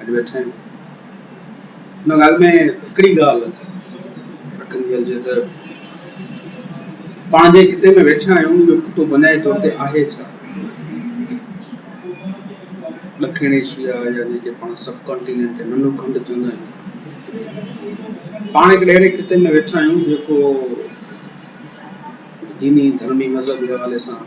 اڄ ويٺا آهيون ان ڳالهه ۾ هڪڙي ڳالهه رکندي هلجي ته پاڻ جنهن خطي ۾ ويٺا آهيون اهو خطو بنيادي طور تي آهي ڇا ڏکڻ ايشيا يا جنهن کي پاڻ سب ڪانٽيننٽ ننڍو کنڊ چوندا آهيون پاڻ هڪڙي اهڙي خطي ۾ ويٺا آهيون جيڪو ديني ڌرمي مذهبي حوالي سان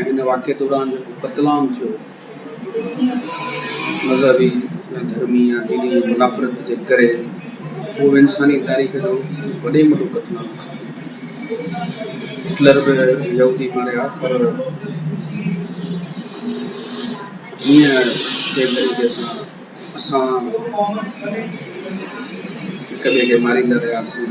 ۽ ان واقعي دوران جيڪو قتل عام ٿيو مذهبي يا ڌرمي يا ديني منافرت جي ڪري اهو به انساني تاريخ جو وڏي ۾ وڏو قتل عام آهي. هٽلر به يهودي ماريا پر جيئن جنهن طريقي سان اسان هڪ ٻئي کي ماريندا رهياسين.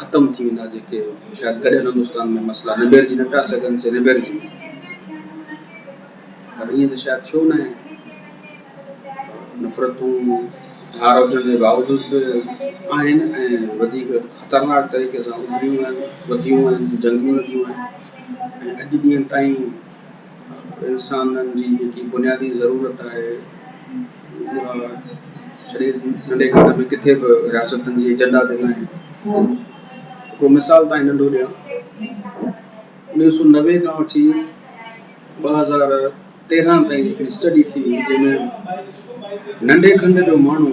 ختم ٿي ويندا جيڪي شايد ڪڏهن ان هندستان ۾ مسئلا نبيرجي نه پيا سگهن سي نبيرجي پر ائين ته شايد ٿيو ناهي نفرتون ڌار هجڻ جي باوجود به آهن ۽ وڌيڪ خطرناڪ طريقي سان اڀريون آهن وڌيون آهن جنگيون لڳيون آهن ۽ اڄ ڏينهن تائين انسانن جي جيڪي بنيادي ضرورت آهي اها سڄي ننڍي کٽ ۾ ڪٿي به رياستن جي ايجنڊا تي ناهي. هڪڙو مثال تائين ننڍو ڏيان انويهه سؤ نوي کان وٺي ٻه هزار تيرنهن تائين هڪڙي اسٽڊي ٿي جنهن ۾ ننڍي کنڊ جو ماڻهو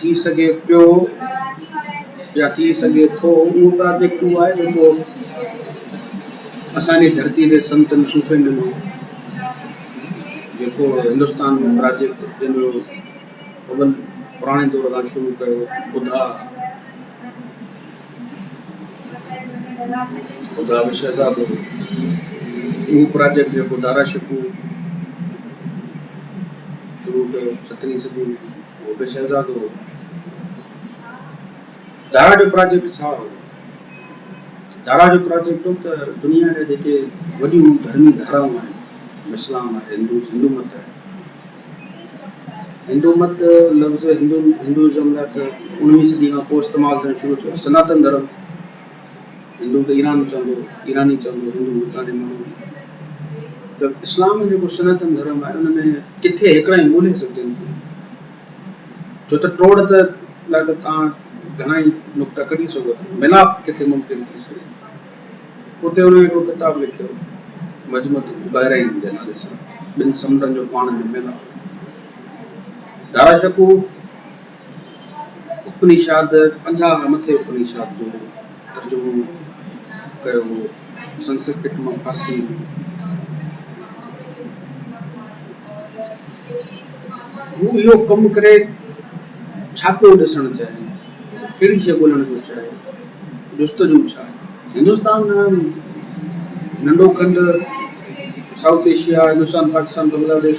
ٿي سگهي پيو يا ٿي سگهي ٿو اهو ته آء جيڪو آهي جيڪو اسان جي ڌرتي تي سنتن صوفين ڏنو جيڪو هندستان جو پراجيڪٽ جنهن جو اول پراڻي دور کان شروع ڪيو ٻڌا ٻڌا به شهزادو اهو پراجيڪٽ جيڪو دارا شڪو شروع ڪيو سترهين صدي هو به شهزادو هو. دارا جو پراجيڪٽ ڇا هو؟ دارا جو پراجيڪٽ هو ته دنيا جا جيڪي وڏيون ڌرمي ڌارائون آهن، اسلام آهي، هندو هندو مت آهي. هندو مت لفظ هندو هندوازم لاء ته اڻويهين صدي کان پوء استعمال ٿيڻ شروع ٿيو. سناتن ڌرم هندو ته ايران چوندو، ايراني چوندو هندو هتان جي ماڻهو ته اسلام ۾ جيڪو سناتن ڌرم آهي ان ۾ ڪٿي هڪڙا ئي مولهي سگهجن ٿيون ڇو ته ٽوڙ ته لاء ته تان گهڻا ئي نقطا ڪڍي سگهو ٿا ملاپ ڪٿي ممڪن ٿي سگهي اتي هن هڪڙو ڪتاب لکيو مجمت بحرين جي نالي سان ٻن سمنڊن جو پاڻ ۾ ملاپ دارا شڪوف اپنيشاد، پنجاهه مٿي اپنيشاد جو ترجمو ڪيو هو، سنسڪرت مان فارسيء ۾. هو اهو ڪم ڪري ڇا پيو ڏسڻ چاهي؟ ڪهڙي شيء ڳولهڻ پيو چاهي؟ جستجو ڇا؟ هندستان ننڍو کنڊ، سائوٿ ايشيا، هندستان، پاڪستان، بنگلاديش،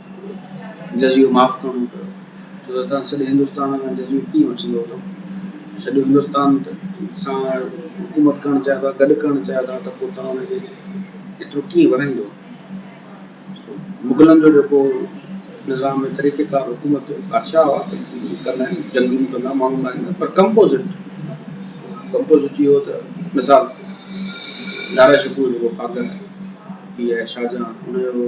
جزيو معاف ڪرڻو پيو، ڇو ته توهان سڄي هندستان کان جزيو ڪيئن وٺندا اٿو؟ سڄو هندستان سان حڪومت ڪرڻ چاهيو ٿا، گڏ ڪرڻ چاهيو ٿا ته پوء توهان ان کي ايترو ڪيئن ورهائيندو؟ مغلن جو جيڪو نظام ۽ طريقيڪار حڪومت جو بادشاهه هئا ته ڪندا آهن، جنگيون ڪندا، ماڻهو ماريندا پر ڪمپوزٽ، ڪمپوزٽ اهو ته مثال نارا شڪوه جيڪو فاڪر پيء آهي شاهجهان ان جو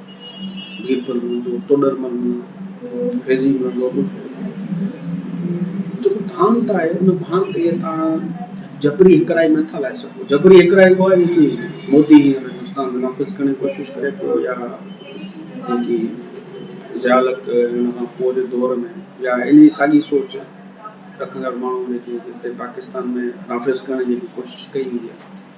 ڀيل پر منهنجو توڏر مل مون فيضي مان گوبل جيڪو ڀانت آهي ان ڀانت کي تان جبري هڪڙائي نه ٿا لائي سگهو جبري هڪڙائي ڪو آهي جيڪي مودي هينئر هندستان ۾ نافذ ڪرڻ جي ڪوشش ڪري پيو يا جيڪي ضيالق هن کان پوء جي دور ۾ يا ان جي ساڳي سوچ رکندڙ ماڻهو جيڪي هتي پاڪستان ۾ نافذ ڪرڻ جي ڪوشش ڪئي وئي آهي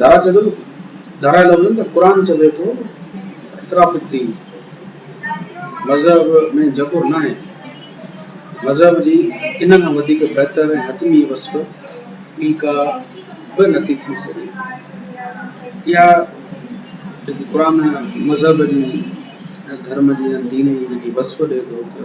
ڌارا ڌارا لفظ آهن ته قرآن چوي ٿو اطراف الدين مذهب ۾ جبر نه آهي مذهب جي ان کان وڌيڪ بهتر ۽ حتمي وصف ٻي ڪا به نٿي ٿي سگهي اها جيڪي قرآن مذهب جي ڌرم جي دين جي جيڪي وصف ڏي ٿو ته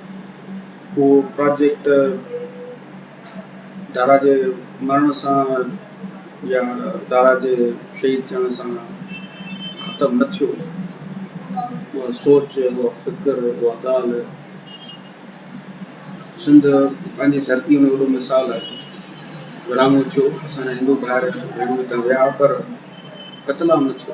اهو پراجيڪٽ دارا جي مرڻ سان يا دارا جي شهيد ٿيڻ سان ختم نه ٿيو. اها سوچ، اها فڪر، اها ڳالهه سنڌ پنهنجي ڌرتيء ۾ وڏو مثال آهي. ورهاڱو ٿيو، اسان جا هندو ڀائر ڀيڻون هتان ويا پر قتلام نه ٿيو.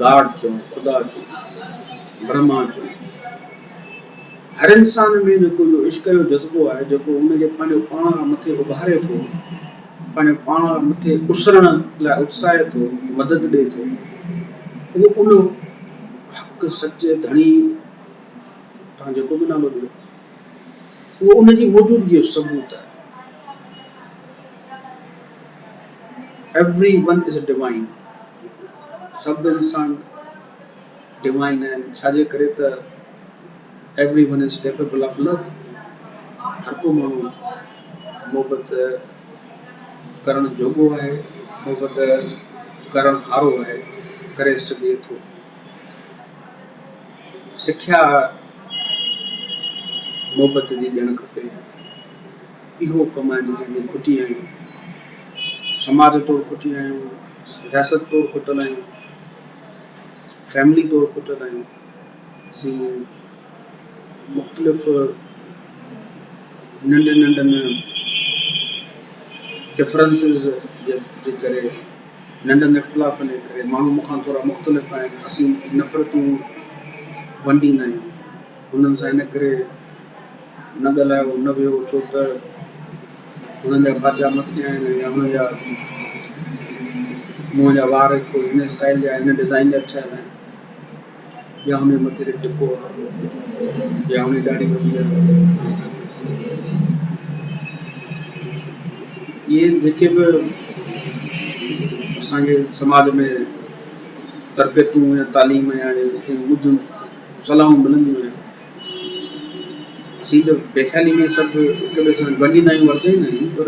گاڊ چئو، خدا چئو، برهما چئو، هر انسان ۾ جيڪو اهو عشق جو جذبو آهي، جيڪو ان کي پنهنجو پاڻ کان مٿي اڀاري ٿو، پنهنجو پاڻ کان مٿي اسرڻ لاء اتساهي ٿو، مدد ڏئي ٿو، اهو ان حق سچي ڌڻي تان جيڪو به نالو ڏيو، اهو ان جي موجودگيء جو ثبوت آهي. ايووري ون از ڊوائين، سڀ انسان ڊوائين آهن، ڇاجي ڪري ته ايووري one is capable of love, هر ڪو ماڻهو محبت ڪرڻ جوڳو آهي، محبت ڪرڻ هارو آهي، ڪري سگهي ٿو. سکيا محبت جي ڏيڻ کپي. اهو ڪم آهن جنهن ۾ کٽي آهيون، سماج طور کٽي آهيون، رياست طور کٽل آهيون، فيملي طور کٽل آهيون، اسين مختلف ننڍن ننڍن ڊفرنسز جي ڪري ننڍن اختلافن جي ڪري ماڻهو مون کان ٿورا مختلف آهن اسين نفرتون ونڊيندا آهيون انهن سان ان ڪري نه ڳالهايو نه ويهو ڇو ته هنن جا ڀاتيا مٿي آهن ۽ يا هنن جا منهن جا وار هڪ هن اسٽائيل جا هن ڊزائين جا ٺهيل آهن يا هن جي مٿي تي ٽڪو آهي يا هن جي ڏاڙهي وڏي آهي اهي جيڪي به اسان جي سماج ۾ تربيتون يا تعليم يا ٻڌيون صلاحون ملنديون آهن اسين ته پيخالي ۾ سڀ هڪ ٻئي سان ورجائيندا آهيون ورجائيندا آهيون پر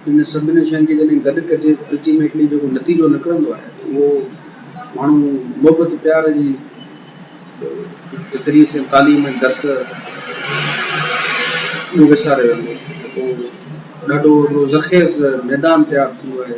ان سڀني شين کي جڏهن گڏ ڪجي الٽيميٽلي جيڪو نتيجو نڪرندو آهي ته اهو ماڻهو محبت پيار جي ذريعي سان تعليم ۽ درس اهو وساري ويندو ڏاڍو ذخيز ميدان تيار ٿيندو آهي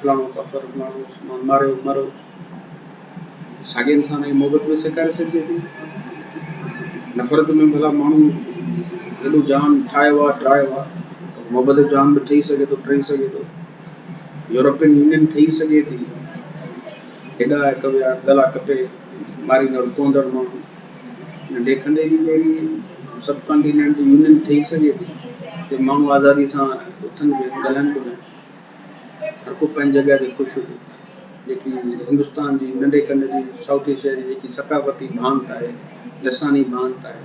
فلاڻو ڪافر فلاڻو عثمان ماريو مرو ساڳئي انسان کي محبت ۾ سيکاري سگهجي ٿي نفرت ۾ ڀلا ماڻهو ايڏو جهان ٺاهيو آهي ٽراهيو آهي محبت جو جهان به ٺهي سگهي ٿو ٽهي سگهي ٿو يورپين يونين ٺهي سگهي ٿي هيڏا هڪ ٻيا گلا ڪپي ماريندڙ ڪوندڙ ماڻهو ننڍي کنڊي جي جهڙي سب ڪانٽيننٽ يونين ٺهي سگهي ٿي ماڻهو آزادي سان اٿن به ڳالهائن به هڪ پنهنجي جڳهه تي خوش هجي جيڪي هندستان جي ننڍي کنڊ جي سائوٿ ايشيا جي جيڪي ثقافتي ڀانت آهي، لساني ڀانت آهي،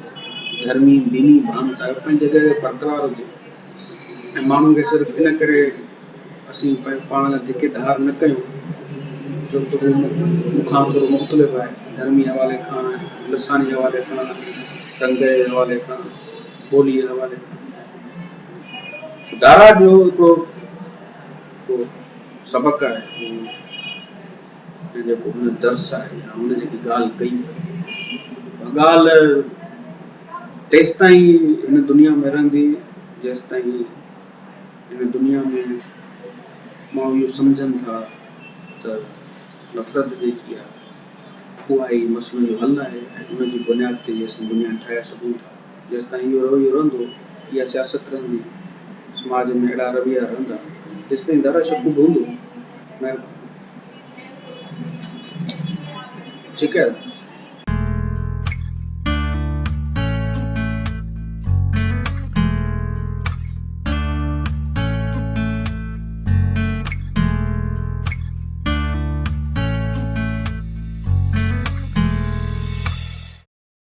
ڌرمي ديني ڀانت آهي اهو پنهنجي جڳهه تي برقرار هجي ۽ ماڻهن کي صرف ان ڪري اسين پاڻ لاء ڌڪي ڌار نه ڪيون جو ته هو مون کان ٿورو مختلف آهي ڌرمي حوالي کان لساني حوالي کان رنگ جي حوالي کان ٻولي جي حوالي کان. دارا جو هڪڙو جيڪو سبق آهي اهو ۽ جيڪو هن درس آهي يا هن جيڪي ڳالهه ڪئي اها ڳالهه تيستائين هن دنيا ۾ رهندي جيستائين هن دنيا ۾ ماڻهو اهو سمجهن ٿا ته نفرت جيڪي آهي اها ئي مسئلن جو حل آهي ۽ ان جي بنياد تي ئي اسان دنيا ٺاهي سگهون ٿا. جيستائين اهو رويو رهندو، اها سياست رهندي، سماج ۾ اهڙا رويا رهندا، جيستائين دادا شڪوب هوندو، مهرباني ٺيڪ آهي دادا.